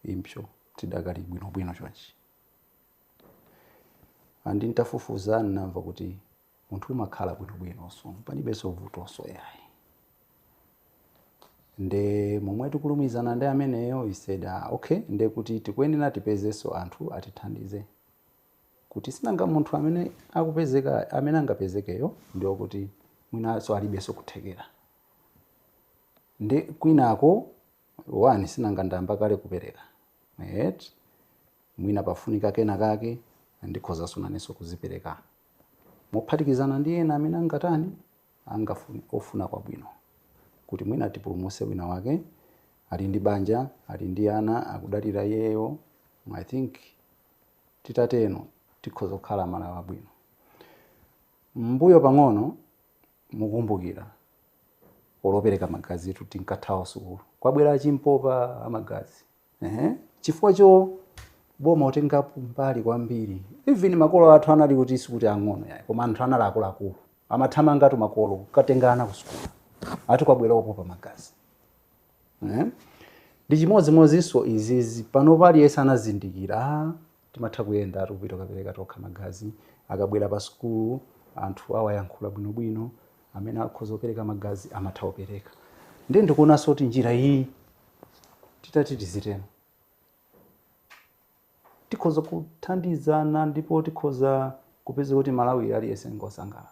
impsyo tidakali bwinobwino chonchi. And ntafufuza nnamva kuti munthu umakhala bwinobwinonso palibenso vutonso yayi. Nde momwe tikulumizana ndi ameneyo he said ah okay nde kuti tikuyenera tipezenso anthu atithandize kuti sinanga munthu amene akupezeka amene angapezekeyo ndi okuti mwinanso alibenso kuthekera. Nde kwinako sinanga ndayamba kale kupereka eti mwina pafunika kena kake ndikhozanso nanenso kudzipereka mophatikizana ndi ena amene angatani angafune ofuna kwabwino kuti mwina tipulumuse wina wake ali ndi banja ali ndi ana akudalira iyeyo I think titateno tikhoza kukhala amalawi abwino. Mmbuyo pang'ono. mukumbukira olo opereka magazi tu tinkathawa sukulu kwabwera achimpopa amagazi ehe chifukwa choti boma silitengapo mbali kwambiri even makolo athu anali kuti sikuti ang'ono yayi koma anthu anali akuluakulu amathamangatu makolo kukatenga ana ku sukulu ati kwabwera opopa magazi eh? ndi chimodzimodzinso izizi pano aliyense anazindikira ah, Timatha kuyendatu kupita kukapereka tokha magazi. Akabwera pa sukulu anthu awayankhula bwinobwino. Amene akhoza kupereka magazi amatha kupereka. Ndiye ndikuonanso kuti njira iyi titati tiziteno tikhoza kuthandizana ndipo tikhoza kupeza kuti Malawi aliyense ngosangalala.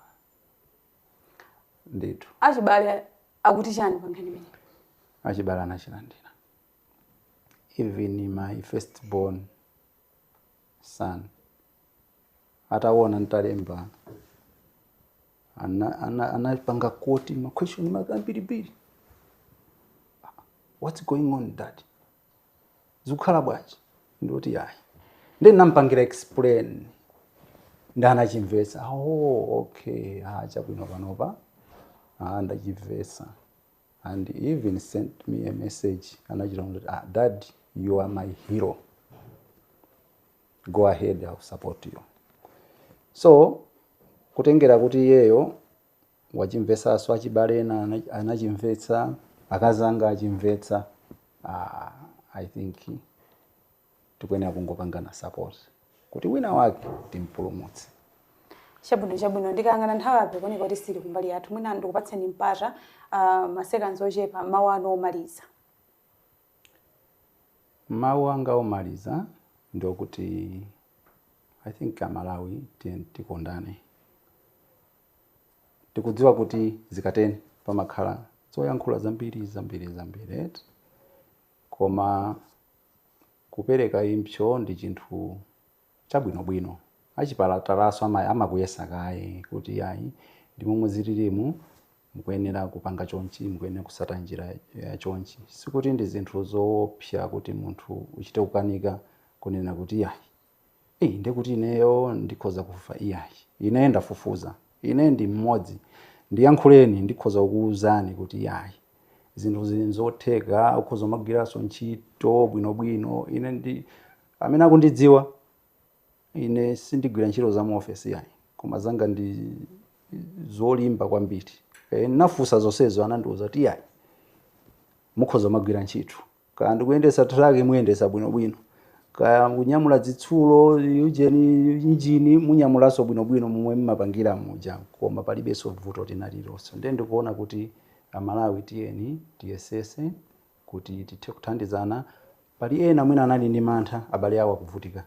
Ndithu. Achibale akuti chani pa nkhani imeneyi? Achibale anachilandira. even my first born son ataona ntalemba ana- ana- anapanga koti maquestion ambirimbiri what's going on dad zikukhala bwanji ndiye ndati ayi ndiye ndinampangira explain nde anachimvetsa oh okay ah chabwino panopa ah ndachimvetsa and even sent me a message anachita kuti ah, dad you are my hero go ahead I'll support you so kutengera kuti iyeyo wachimvetsanso achibale ena ana- anachimvetsa akazanga achimvetsa ah, i think tikuyenera kungopangana support kuti wina wake timpulumutse chabwino chabwino ndikayang'ana nthawi apo ikuoneka kuti sili kumbali yathu mwina ndikupatseni mpata ah, masekanzi ochepa mawu anu omaliza mawu anga omaliza ndi okuti i think amalawi tiyeni tikondane tikudziwa kuti zikateni pamakhala zoyankhula zambiri zambiri zambiri eti Koma kupereka impso ndi chinthu chabwinobwino. Achipatalaso amakuyesa kaye kuti iyayi ndi momwe zililimu mukuyenera kupanga chonchi, mukuyenera kutsata njira ya chonchi. Sikuti ndi zinthu zoopsa kuti munthu uchite kukanika kunena kuti iyayi. Ii, ndiye kuti ineyo ndikhoza kufa iyayi. Ine ndafufuza. Ine ndi mmodzi. Ndiyankhuleni, ndikhoza kukuwuzani kuti iyayi. Zinthu zili nzotheka, ukhoza kumagwiranso ntchito bwinobwino. Ine amene akundidziwa. Ine sindigwira ntchito za mu ofesi iyayi, koma zanga ndi zolimba kwambiri. E, ndinafunsa zonsezo, anandiwuza kuti iyayi, mukhoza kumagwira ntchito. kaya ndikuyendesa truck muyendesa bwinobwino kaya kunyamula zitsulo ujeni injini munyamulaso bwinobwino momwe mmapangira muja koma palibenso vuto lina lilonse ndiye ndikuona kuti amalawi tiyeni tiyesetse kuti tithe kuthandizana pali ena mwina anali ndi mantha abale awo akuvutika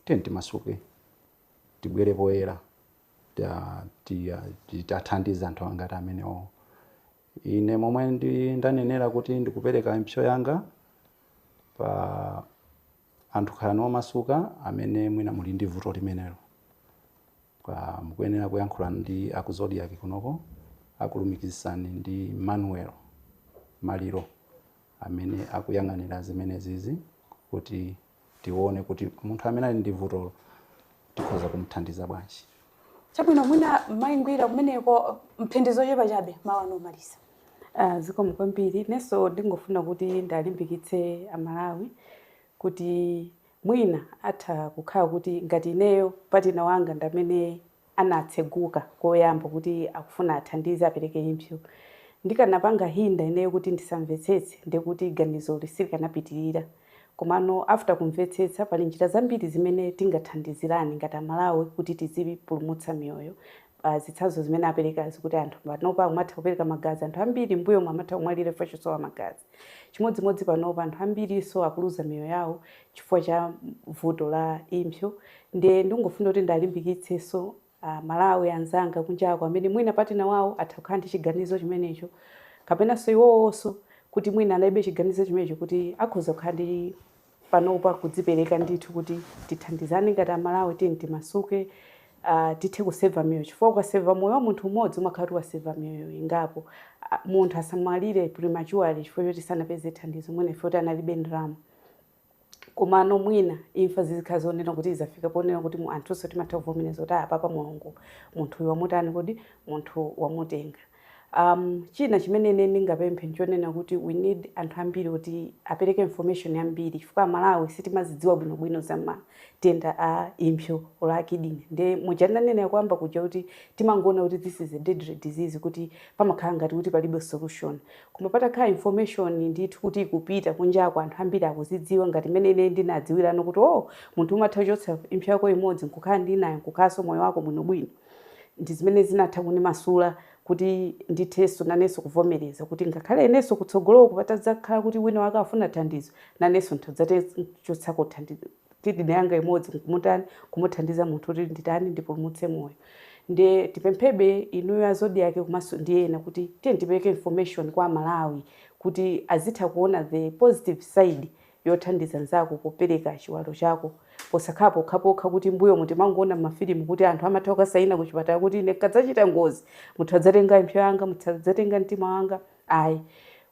tiyeni timasuke tibwere poyera ta- tiya- ti- tathandiza anthu angati amenewo Ine, momwe ndi, ndanenera kuti ndikupereka impso yanga pa anthu, khalani omasuka amene mwina muli ndi vuto limenelo, pa. mukuyenera kuyankhulana ndi aku Zodiak kunoko akulumikizitsani ndi Emmanuel Maliro amene akuyang'anira zimenezizi kuti. tione kuti munthu amene ali ndi vutolo tikhoza kumthandiza bwanji chabwino mwina mayi ngwira kumeneko mphindi zochepa chabe mawu anu omaliza Ah, zikomo kwambiri nenso ndingofuna kuti ndalimbikitse amalawi kuti mwina atha kukhala kuti ngati ineyo partner wanga ndamene anatseguka koyamba kuti akufuna athandize apereke impsyo. Ndikanapanga hinder ineyo kuti ndisamvetsetse ndiye kuti ganizoli silikanapitirira. Komano after kumvetsetsa pali njira zambiri zimene tingathandizirane ngati a Malawi kuti tizipulumutsa miyoyo. Zitsanzo zimene aperekazi kuti anthu panopa akumatha kupereka magazi, anthu ambiri m'mbuyomu amatha kumwalira chifukwa chosowa magazi. Chimodzimodzi panopa, anthu ambirinso akuluza miyoyo yawo chifukwa cha vuto la impso. Ndiye ndikungofuna kuti ndalimbikitsenso a Malawi anzanga kunjako amene mwina partner wawo atha kukhala ndi chiganizo chimenecho kapenanso iwowonso kuti mwina analibe chiganizo chimenecho kuti akhoza kukhala ndi panopa kudzipereka ndithu kuti tithandizane ngati amalawi tiyeni timasuke ah, tithe kuseva miyoyo chifukwa ukaseva moyo wa munthu umodzi umakhala kuti waseva miyoyo ingapo Ah, munthu asamwalire prematurely chifukwa choti sanapeze thandizo mwina ife kuti analibe ndalama komano mwina imfa zizikhala zonena kuti izafika ponena kuti anthunso timatha kuvomereza kuti apapa mulungu munthuyu wamutani kodi wamutenga Am, china chimene ine ndingapemphe nchonena kuti we need anthu ambiri oti apereke information yambiri chifukwa amalawi sitimazidziwa bwino bwino za matenda a impsyo or a kidney nde muja ndinanenera koyamba kuja kuti timangoona kuti this is a deadly disease kuti pamakhala ngati kuti palibe solution koma patakhala information ndithu kuti ikupita kunjako anthu ambiri akuzidziwa ngati mmene ine ndinadziwira kuti oh munthu umatha kuchotsa impsyo yako imodzi nkukhala ndi inayo n'kukhalanso moyo wako bwino bwino Ndi zimene zinatha kundimasula kuti ndithenso nanenso kuvomereza kuti ngakhale inenso kutsogoloku patadzakhala kuti wina wake afuna thandizo, nanenso ndidzatha kuchotsako kidney yanga imodzi nkumutani kumuthandiza munthu kuti nditani ndipulumutse moyo. Nde tipemphebe inuyo a Zodiak komanso ndi ena kuti tiyeni tipereke information kwa Amalawi kuti azitha kuona the positive side yothandiza nzako popereka chiwalo chako posakhala pokhapokha kuti mbuyomu timangoona mmafilimu kuti anthu amatha kukasaina kuchipatala kuti ine nkadzachita ngozi mutha kudzatenga impso yanga mutha kudzatenga mtima wanga ayi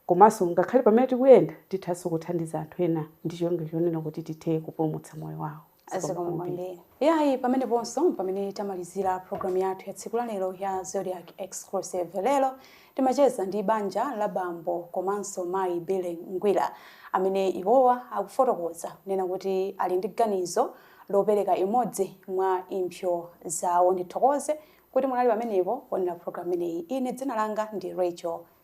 komanso ngakhale pamene tikuyenda tithanso kuthandiza anthu ena ndi cholinga chonena kuti tithe kupulumutsa moyo wawo. zikomo kwambiri yayi pameneponso pamene tamalizira programu yathu ya tsiku lalero ya zodiak exclusive lero timacheza ndi banja la bambo komanso mayi billy ngwira amene iwowa akufotokoza kunena kuti ali ndi ganizo lopereka imodzi mwa impsyo zawo ndithokoze kuti munali pamenepo kuonera programu imeneyi ine dzina langa ndi rachel